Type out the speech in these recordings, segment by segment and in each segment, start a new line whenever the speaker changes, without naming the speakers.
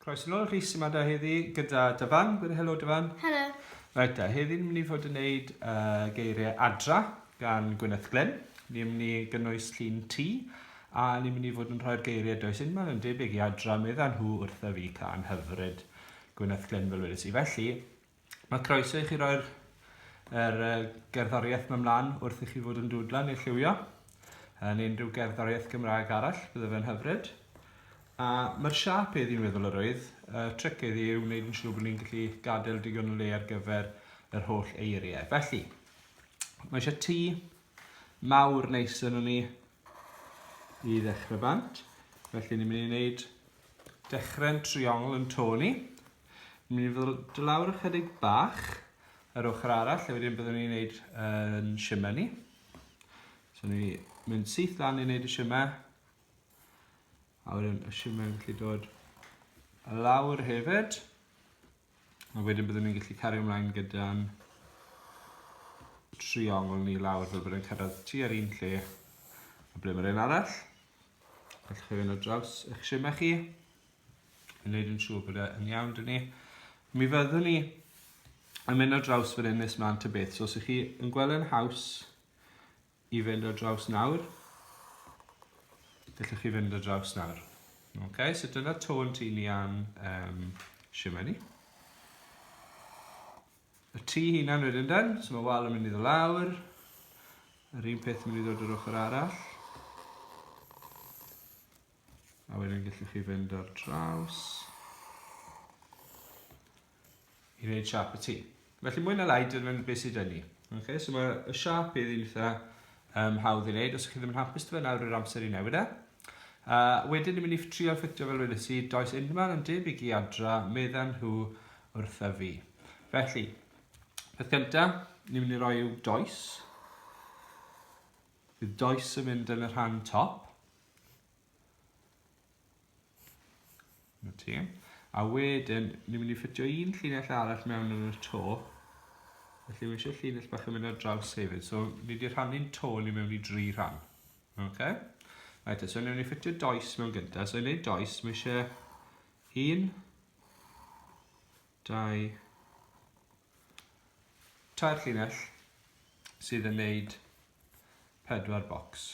Croeso nôl Rhys yma da heddi gyda Dyfan. Gwyd helo Dyfan. Helo. Reit da, heddi ni'n mynd i fod yn gwneud uh, geiriau adra gan Gwyneth Glenn. Ni'n mynd i gynnwys llun ti a ni'n mynd i fod yn rhoi'r geiriau does un ma'n yn debyg i adra meddyn nhw wrtha fi can hyfryd Gwyneth Glenn fel wedys i. Felly, Mae croeso i chi roi'r er, gerddoriaeth mewn mlaen wrth i chi fod yn dwdlan neu lliwio. Yn unrhyw gerddoriaeth Gymraeg arall, bydde fe'n hyfryd. A mae'r siap ei ddi'n meddwl yr oedd, y tric ei ddi yw wneud yn siŵr bod ni'n gallu gadael digon o le ar gyfer yr holl eiriau. Felly, mae eisiau tŷ mawr neis yn ni i ddechrau bant. Felly ni'n mynd i wneud dechrau'n triongl yn to ni. Yn mynd i ddod i lawr ychydig bach yr ochr arall, a wedyn byddwn ni'n gwneud yn shimmer ni. So ni mynd syth lan i wneud y shimmer. A wedyn y shimmer yn gallu dod lawr hefyd. A wedyn byddwn ni'n gallu cario ymlaen gyda'n triongl ni lawr fel bod e'n cyrraedd ti ar un lle a ble mae'r un arall. Gallwch chi fynd o draws eich shimmer chi. yn neud yn siŵr bod e yn iawn dyn ni. Mi fyddwn ni yn mynd ar draws fan hyn nes mlaen ta beth. So os ych chi yn gweld yn haws i fynd ar draws nawr, gallwch chi fynd ar draws nawr. Okay, so dyna tôn ti ni am um, siwmai ni. Y tu hunan wedyn den, so mae wal yn mynd i ddod lawr. Yr un peth yn mynd i ddod yr ochr arall. A wedyn gallwch chi fynd ar draws i wneud siap y tŷ. Felly mwy na lai, dyna beth sydd yn ni. Okay, so mae y siap i'r un eitha um, hawdd i wneud, os ydych chi ddim yn hapus dy fe nawr yr amser i newid e. Uh, wedyn ni'n mynd i trio ffitio fel wedi si, does unman yn debyg i adra, medden nhw wrtha fi. Felly, peth gyntaf, ni'n mynd i roi yw does. Bydd does yn mynd yn y rhan top. Na ti. A wedyn, ni'n mynd i ffitio un llinell arall mewn yn y to. Felly, mae eisiau llinell bach yn mynd ar draws hefyd. So, ni wedi rhannu'n to ni mewn i dri rhan. Okay? Right, so ni'n mynd i ffitio does mewn gyntaf. So, i wneud does, mae eisiau un, dau, tair llinell sydd yn wneud pedwar bocs.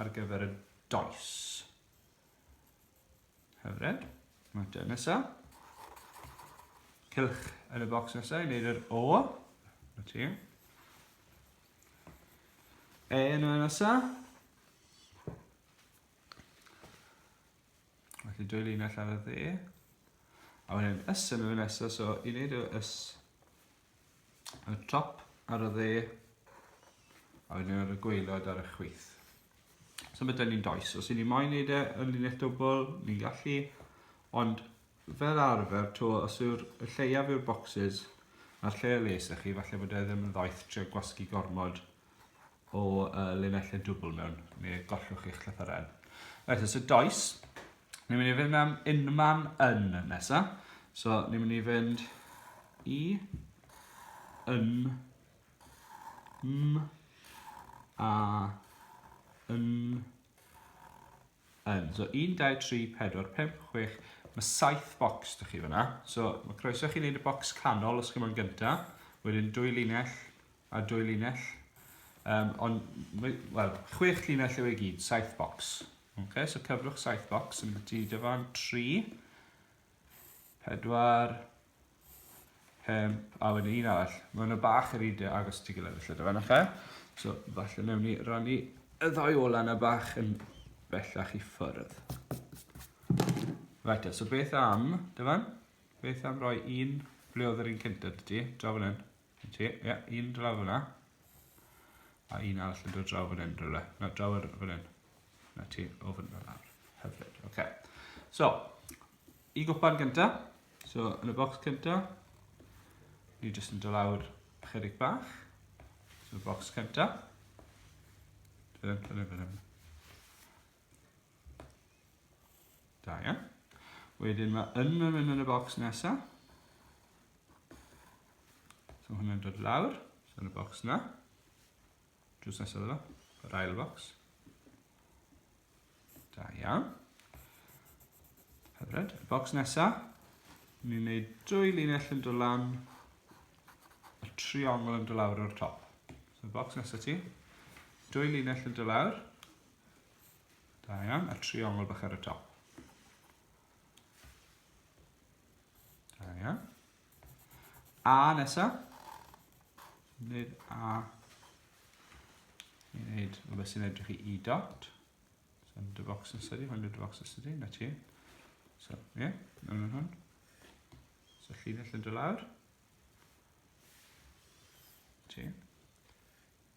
ar gyfer y does. Hyfryd. Mater nesaf. Cylch yn y bocs nesaf i wneud yr O. Na ti. E yn y nesaf. Felly dwy linell ar y dde. A wedyn ys yn y nesaf, so i wneud y ys Ar y top, ar y dde, a wedyn ar y gweilod ar y chwith. So mae dyn ni'n does. Os i ni moyn neud e yn linell dwbl, ni'n gallu. Ond fel arfer, to, os yw'r lleiaf yw'r boxes, a'r lle y les ych chi, falle bod e ddim yn ddoeth trio gwasgu gormod o uh, linellau dwbl mewn, mi gollwch chi'ch llythyren. Right, so does, ni'n mynd i fynd am unman yn nesa. So, ni'n mynd i fynd i yn m a yn yn. So 1, 2, 3, 4, 5, 6, mae 7 bocs dych chi fyna. So mae croeso chi wneud y bocs canol os chi moyn gyntaf, wedyn dwy linell a dwy linell. Um, ond, wel, chwech linell yw ei gyd, saith bocs. Okay, so cyfrwch saith bocs yn byti dyfan, tri, pedwar, pum, a wedyn un arall. Mae hwnna bach yr un agos ti gilydd felly dyfan, okay? So, falle newn ni rannu y ddau ola yna bach yn bellach i ffyrdd. Right, so beth am, dyfan? Beth am roi un, ble oedd yr un cyntaf ti? Draw fan hyn. Yn ti? Ie, yeah, un draw fyna. A un arall yn dod draw fan hyn, rhywle. Na, draw ar fan hyn. Na ti, o fan hyn nawr. Hyfryd, oce. Okay. So, i gwpan gynta. So, yn y bocs cynta, ni jyst yn dylawr chydig bach. So, y bocs cynta. Dyna, dyna, dyna. Da iawn. Wedyn mae yn yn mynd yn y bocs nesa. So hwnna'n dod lawr, so yn y bocs na. Drws nesaf yna, yr ail bocs. Da iawn. Hyfryd. Y bocs nesa, ni'n gwneud dwy linell yn dod lan, y triongl yn dod lawr o'r top. So y bocs nesa ti, dwy linell yn dod lawr, Da iawn, a triongl bach ar y top. Da iawn. A nesa. Wneud A. I wneud o beth sy'n edrych i E dot. So, dy fox yn sydi, hwn dy fox yn sydi, na ti. So, ie, yeah, mewn yn hwn. So, llinell yn dy lawr. Ti.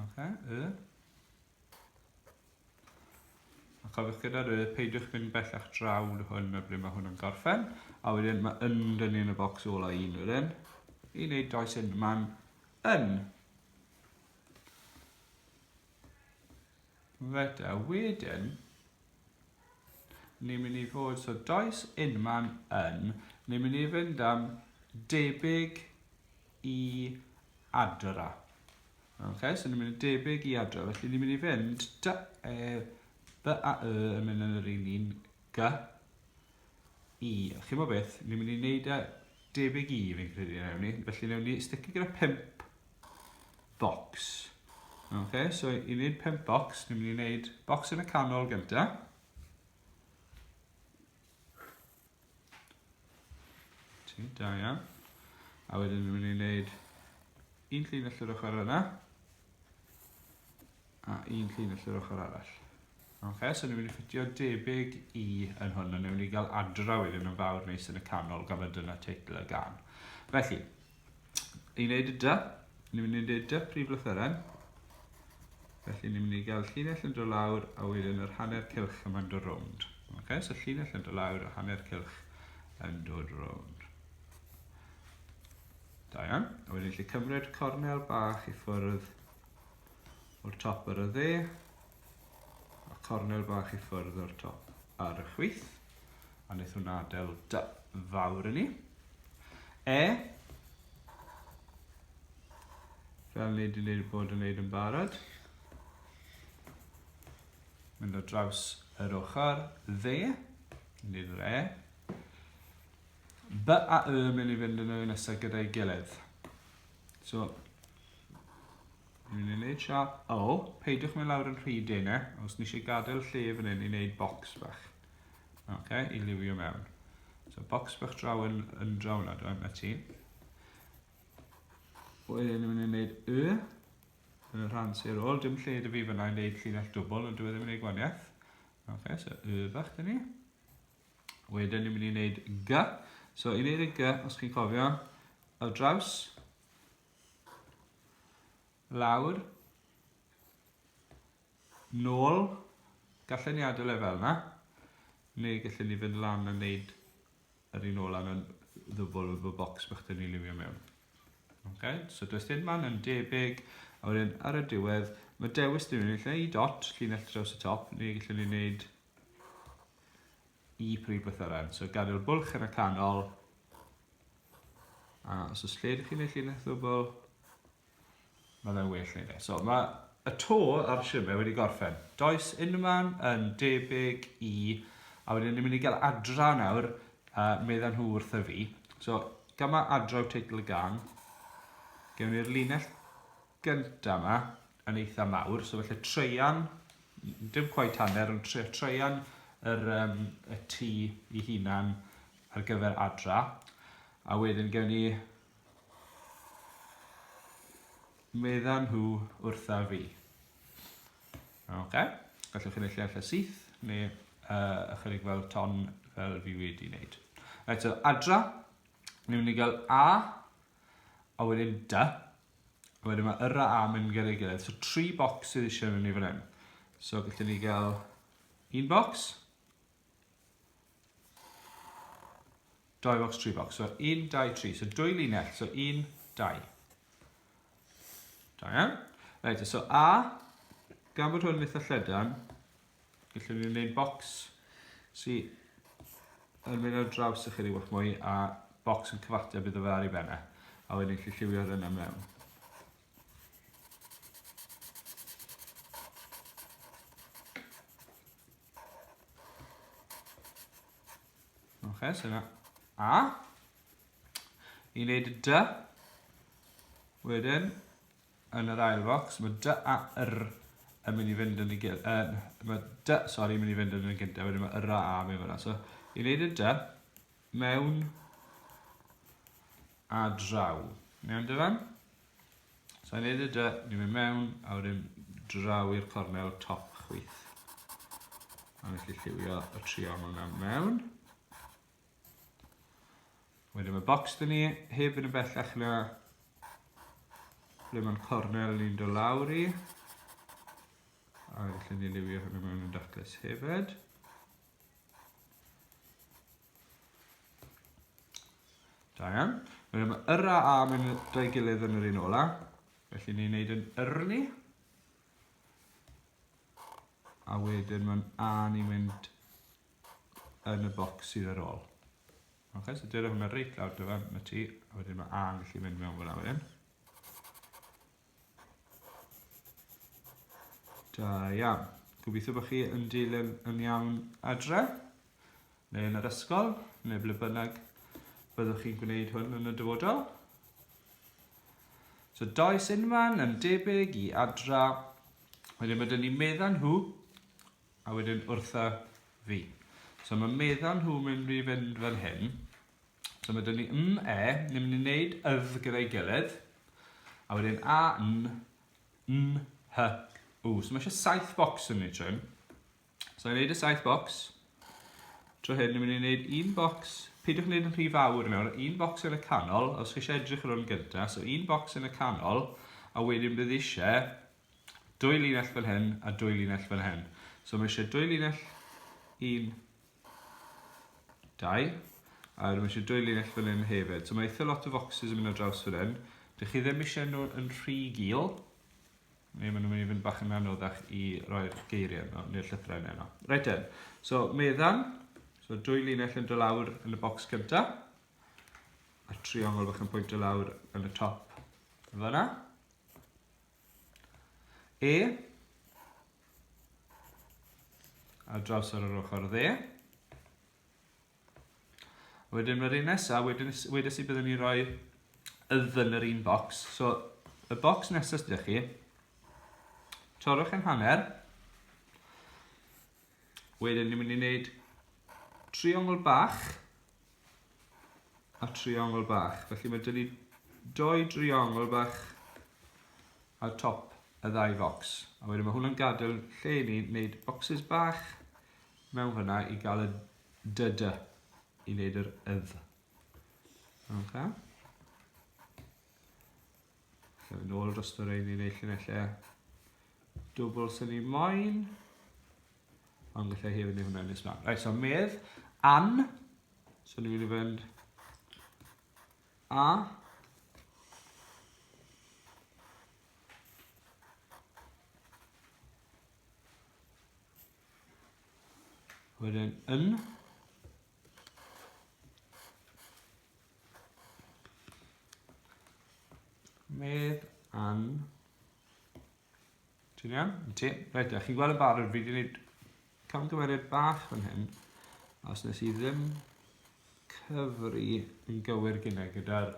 Okay, y. A cofiwch gyda'r y, peidiwch mynd bellach draw yn hwn na bryd mae hwn yn gorffen. A wedyn mae yn dynnu yn y bocs ôl o un wedyn. I wneud does yn, mae'n yn. Reit, a wedyn, Ni'n mynd i fod, so does unman yn, ni'n mynd i fynd am debyg i adra. Ok, so ni'n mynd i debyg i adra, felly ni'n mynd i fynd dy, e, dy a y yn mynd yn yr un un gy, i. Chi'n mo beth, ni'n mynd i wneud e debyg i fi'n credu newn ni, felly newn ni sticky gyda pimp bocs. Ok, so i wneud pimp bocs, ni'n mynd i wneud bocs yn y canol gyntaf. Ti, da iawn. A wedyn ni'n mynd i wneud un llun allan o'r ochr yna. A un llun allan o'r ochr arall. Ok, so ni'n mynd i ffitio debyg i yn hwn, a ni'n mynd i gael adraw iddyn nhw'n fawr neis yn y canol, gan fod dyna teitl y gan. Felly, i wneud y dy, ni'n mynd i wneud dy prif lythyren. Felly ni'n mynd i gael llinell yn dod lawr a wedyn yr hanner cilch yma'n dod rownd. Okay, so llinell yn dod lawr a hanner cilch yn dod rownd. Da iawn. A wedyn lle cymryd cornel bach i ffwrdd o'r top ar y dde. A cornel bach i ffwrdd o'r top ar y chwith. A wnaeth hwnna adael da fawr yn ni. E. Fel ni wedi gwneud bod yn gwneud yn barod. Mynd o draws yr ochr dde. Nid yr e. B a y mynd i fynd yn y nesaf gyda'i gilydd. So, Rwy'n ei wneud siap. O, peidiwch mynd lawr yn rhy dene, os ni eisiau gadael lle fan hyn i wneud bocs bach. Ok, i liwio mewn. So, bocs bach draw yn, yn draw yna, dwi'n na ti. Wedyn, rwy'n ei wneud y, yn y rhan sy'n ôl, dim lle dy fi fyna i wneud llinell dwbl, ond dwi e ddim yn ei gwaniaeth. Ok, so y bach dyn ni. Wedyn, ni'n mynd i wneud g. So, i wneud y g, os chi'n cofio, ar draws, Lawr. Nôl. Gallen ni adael e fel yna. Neu gallen ni fynd lan a wneud yr un ola yn ddyfol o'r bocs bach dyn ni liwio mewn. Okay? So does dim man yn debyg, a wedyn ar y diwedd, mae dewis dyn ni'n lle i dot, llinell draws y top, neu gallen ni wneud y prif brythyrau. So gadael bwlch yn y canol. A os oes lle ydych chi'n ei llinell ddwbl, mae fe'n well neud e. So mae y to ar y siwrne wedi gorffen. Does unman yn debyg i, a wedyn ni'n mynd i gael adra nawr, uh, meddyn nhw wrth y fi. So, gyma adra yw teitl y gan. Gewn ni'r linell gynta ma yn eitha mawr, so felly treian, dim cweit hanner, ond tre, treian yr, um, y tu i hunan ar gyfer adra. A wedyn gen i meddan nhw wrtha fi. Okay. Gallwch chi'n eich lle syth, neu uh, ychydig fel ton fel fi wedi wneud. Right, so adra, ni'n mynd i gael A, A wedyn dy. A wedyn mae yr a a mynd gyda'i gilydd. So tri bocs sydd eisiau mynd i fan hyn. So gallwn ni gael un bocs. Doi bocs, tri bocs. So un, dau, tri. So dwy linell. So un, dau. Da iawn. Reit, so a, gan bod hwn yn eitha llydan, Felly ni'n gwneud bocs sy yn mynd ar draws i chi rywbeth mwy a bocs yn cyfateb iddo fe ar ei benne. A wedyn chi lliwio hynna mewn. Oce, so yna A. Ni'n gwneud y dy. Wedyn, yn yr ail focs, mae dy a yr yn mynd i fynd yn y gyd, yn, mae dy, sori, yn mynd i fynd yn y gyntaf, wedyn mae yr a a mewn fyna. So, i wneud y dy, mewn a draw. Mewn dyfan. So, i wneud y dy, ni'n mynd mewn, a wedyn draw i'r cornel top chwith. A nes i lliwio y triongl yna mewn. Wedyn mae bocs dyn ni, heb fynd yn bellach na ble mae'n cornel ni'n dod lawr i. A felly ni liwio hwnnw mewn yn daclus hefyd. Da iawn. Wedyn mae yr a a mewn dau gilydd yn yr un ola. Felly ni'n neud yn yrni. A wedyn mae'n a ni'n mynd yn y bocs sydd ar ôl. Ok, so dyna hwnna reit lawr dyfa, mae ti, a wedyn mae A yn gallu mynd mewn fel awyr hyn. Da iawn. Gobeithio bod chi yn dilyn yn iawn adre, neu yn yr ysgol, neu ble bynnag byddwch chi'n gwneud hwn yn y dyfodol. So does unman yn debyg i adra. Wedyn mae dyn ni meddan nhw A wedyn wrtha fi. So mae meddal nhw mynd i fynd fel hyn. So mae dyn ni m, e, ni'n mynd i wneud ydd gyda'i gilydd. A wedyn a, n, n, h, w. So mae eisiau saith bocs yn ni trwy. So i'n wneud y saith bocs. Trwy hyn, ni'n mynd i wneud un bocs. Peidiwch wneud yn rhy fawr i mewn. Un bocs yn y canol, os chi eisiau edrych ar hwn gyntaf. So un bocs yn y canol, a wedyn bydd eisiau dwy linell fel hyn a dwy linell fel hyn. So mae eisiau dwy linell, un, dau, a mae eisiau dwy linell fel hyn hefyd. So mae eitha lot o foxes yn mynd ar draws fel hyn. Dych chi ddim eisiau nhw yn rhy gil, neu maen nhw'n mynd i fynd bach yn anoddach i roi'r geiriau yno, neu'r llythrain yno. Reit den, so meddam, so dwy linell yn dylawr yn y bocs cyntaf, a triongl bach yn pwynt dylawr yn y top fyna. E. A draws ar yr ochr dde. Wedyn mae'r un nesaf, wedyn wedes i byddwn ni roi yddyn yr un bocs. So, y bocs nesaf sydd chi, torrwch yn hanner, wedyn ni'n mynd i wneud triongl bach, a triongl bach. Felly mae dyn ni doi driongl bach ar top y ddau focs. A wedyn mae hwnna'n gadael lle i ni wneud bocsys bach mewn fyna i gael y dydy i wneud yr ydd. Okay. Yn ôl dros y rhain i wneud llinellau dwbl sy'n ei moyn. Ond gallai hefyd wneud hwnna yn nes mlaen. Rhaid, so medd, an. So ni'n mynd i fynd a. Wedyn yn. Medd an. Ti'n iawn? Ti? Reit, a chi'n gweld y barod, fi wedi gwneud camgymeriad bach fan hyn, os nes i ddim cyfri yn gywir gyda gyda'r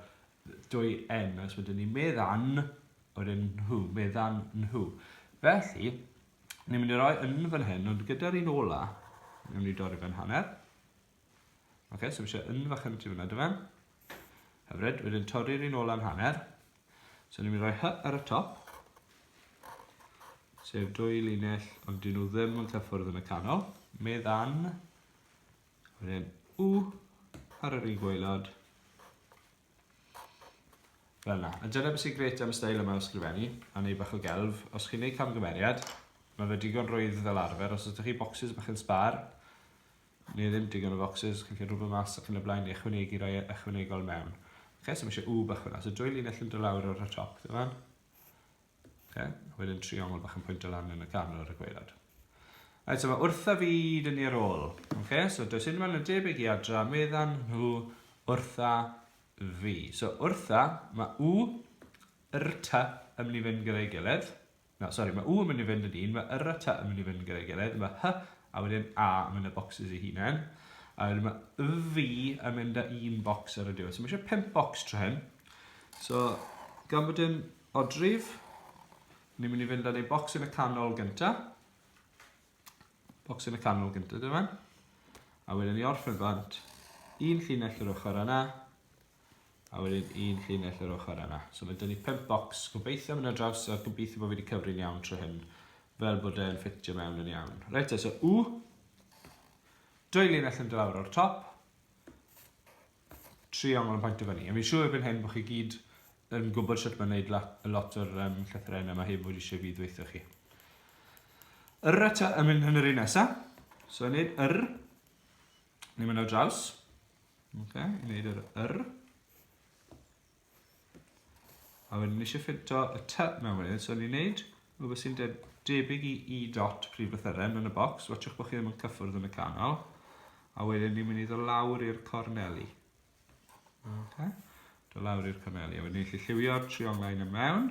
dwy N, os wedyn ni medd an, wedyn nhw, medd an nhw. Felly, ni'n mynd i roi yn fan hyn, ond gyda'r un ola, ni'n mynd i dorri fe'n hanner, Oce, okay, so fi eisiau yn fach yn tu fyna dyma. Hyfryd, wedyn torri'r un ola'n hanner. So ni'n mynd i roi hy ar y top. Sef dwy linell, ond dyn nhw ddim yn cyffwrdd yn y canol. Medd an. Wedyn u ar yr un gwaelod. Fel yna. A dyna beth sy'n gret am y stael yma o sgrifennu, a neu bach o gelf. Os chi'n neud camgymeriad, mae fe digon rwydd fel arfer. Os ydych chi bocsys bach yn sbar, Ni ddim digon o focsys, chi'n gallu rhwbio mas ac yn y blaen i ychwanegu rhai ychwanegol mewn. Oce, so mae eisiau wb ychwaneg. So dwy linell yn dod lawr o'r top, dim ond. Oce, a wedyn triongl bach yn pwynt o lan yn y ganol ar y gwaelod. Right, so mae wrtha fi dyn ni ar ôl. Oce, so does unrhyw un yn debyg i adra, meddan nhw wrtha fi. So wrtha, mae u, rta yn mynd i fynd gyda'i gilydd. Na, sori, mae u yn mynd i fynd yn un, mae yr a ty yn mynd i fynd gyda'i gilydd, mae hy a wedyn a yn mynd â bocsys i hunain. A wedyn mae y fi yn mynd â un bocs ar y diwedd. So mae eisiau pimp bocs tro hyn. So, gan bod yn odrif, ni'n mynd i fynd â ni bocs yn y canol gyntaf. Bocs yn y canol gyntaf, dyma. A wedyn ni orffen bant, un llinell yr ochr yna, a wedyn un llinell yr ochr yna. So mae dyn ni pimp bocs, gobeithio mynd ar draws a gobeithio bod fi wedi cyfri'n iawn trwy hyn, fel bod e'n ffitio mewn yn iawn. Reit, e, so u, dwy llinell yn dylawr o'r top, tri ongl yn pwynt o fyny. A fi'n siŵr erbyn hyn bod chi gyd yn gwybod sut mae'n gwneud lot, lot o'r um, llythyrau yna, mae hyn bod eisiau fi ddweithio chi. Yr y yn mynd yn yr un nesaf, so yn neud yr, ni'n mynd ar draws, Ok, i wneud yr yr. A wedyn ni eisiau ffito y ty mewn wedyn, so ni'n wneud rhywbeth sy'n de debyg i i dot prif lythyren yn y bocs, watchwch bod chi ddim yn cyffwrdd yn y canol, a wedyn ni'n mynd i ddod lawr i'r corneli. Okay. Dod lawr i'r corneli, a wedyn ni'n gallu lliwio'r trionglau yn y mewn.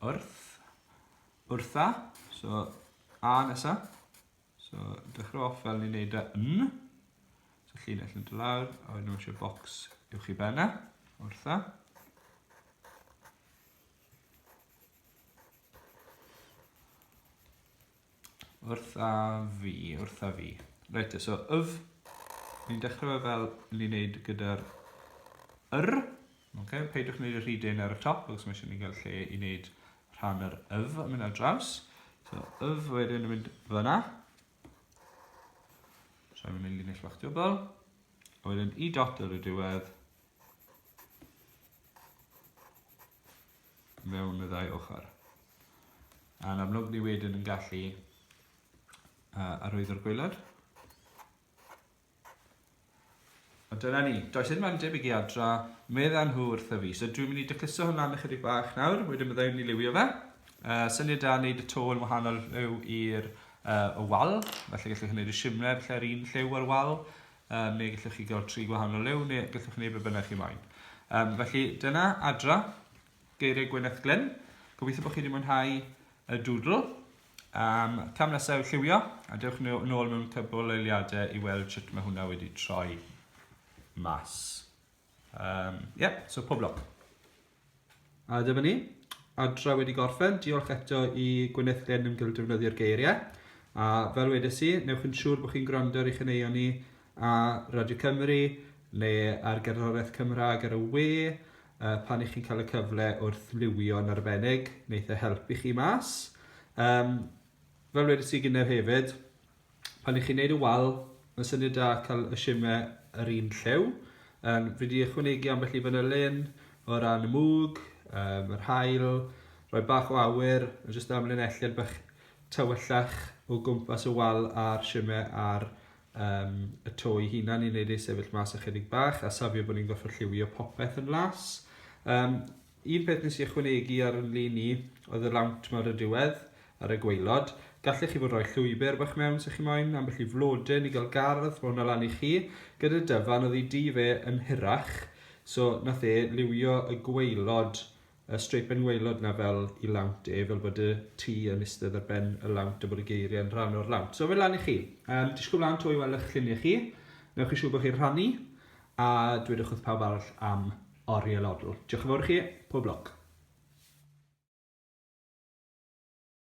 Wrth. Wrtha. So, a nesa. So, dechrau off fel ni'n neud e yn. So, llinell yn dod lawr, a wedyn nhw'n eisiau bocs i'w chi benna. Wrtha. Wrtha fi, wrtha fi. Reit te, so yf, ni'n dechrau fel ni'n neud gyda'r yr. Okay, peidiwch wneud y rhy dyn ar y top, os mae eisiau ni gael lle i wneud rhan yr yf yn mynd ar draws. So, yf wedyn yn mynd fyna. So, yn mynd linell fach diobol. A wedyn i dot ar y diwedd, mewn y ddau ochr. A'n amlwg ni wedyn yn gallu uh, arwyddo'r gwaelod. A dyna ni, does dim yn debyg i adra, medda nhw wrtho fi. So dwi'n mynd i dycuso hwnna yn ychydig bach nawr, wedyn byddai'n ni liwio fe. Uh, syniad da wneud y to yn wahanol rhyw i'r uh, y wal, felly gallwch chi wneud y simler lle'r un lliw ar wal, um, neu gallwch chi gael tri gwahanol liw, neu gallwch chi wneud beth bynnag chi moyn. Um, felly, dyna adra, geiriau Gwyneth Glyn. Gobeithio bod chi wedi mwynhau y dwdl. Um, cam nesaf yw lliwio, a dewch ni nôl mewn cybl eiliadau i weld sut mae hwnna wedi troi mas. Um, yeah, so pob lwc. A dyma ni, adra wedi gorffen. Diolch eto i Gwyneth Glyn yn gildefnyddio'r geiriau. A fel wedes i, newch yn siŵr bod chi'n gwrando ar ei chyneuon ni a Radio Cymru neu ar gerddoriaeth Cymraeg ar y we uh, pan i chi'n cael y cyfle wrth liwio'n arbennig, wneud e helpu chi mas. Um, fel wedes i gynnau hefyd, pan i chi'n neud y wal, mae'n syniad da cael y shime yr un lliw. Um, fi wedi ychwanegu ambell i fanylun o ran y mwg, um, yr hael, rhoi bach o awyr, a jyst amlinelliad bach tywyllach o gwmpas y wal a'r shime a'r um, y to i hunan i wneud ei sefyll mas ychydig bach a safio bod ni'n gorfod lliwio popeth yn las. Um, Un peth nes i ychwanegu ar yn lun i oedd y lawnt 'ma ar y diwedd, ar y gwaelod. Gallech chi fod roi llwybr bach mewn 'sa chi moyn, ambell i flodyn i gael gardd, ma' hwnna lan i chi. Gyda Dyfan oedd ei dŷ fe yn hirach, so nath e liwio y gwaelod, y streipen waelod 'na fel i lawnt e, fel bod y tŷ yn istedd ar ben y lawnt a bod y geirie yn rhan o'r lawnt. So fe lan i chi. Yym, disgwl mlan 'to i wel' 'ych llunie chi. Newch chi siŵr bo' chi'n rhannu, a dwedwch wrth pawb arall am Oriel Odl. Diolch yn fawr i chi. Pob lwc.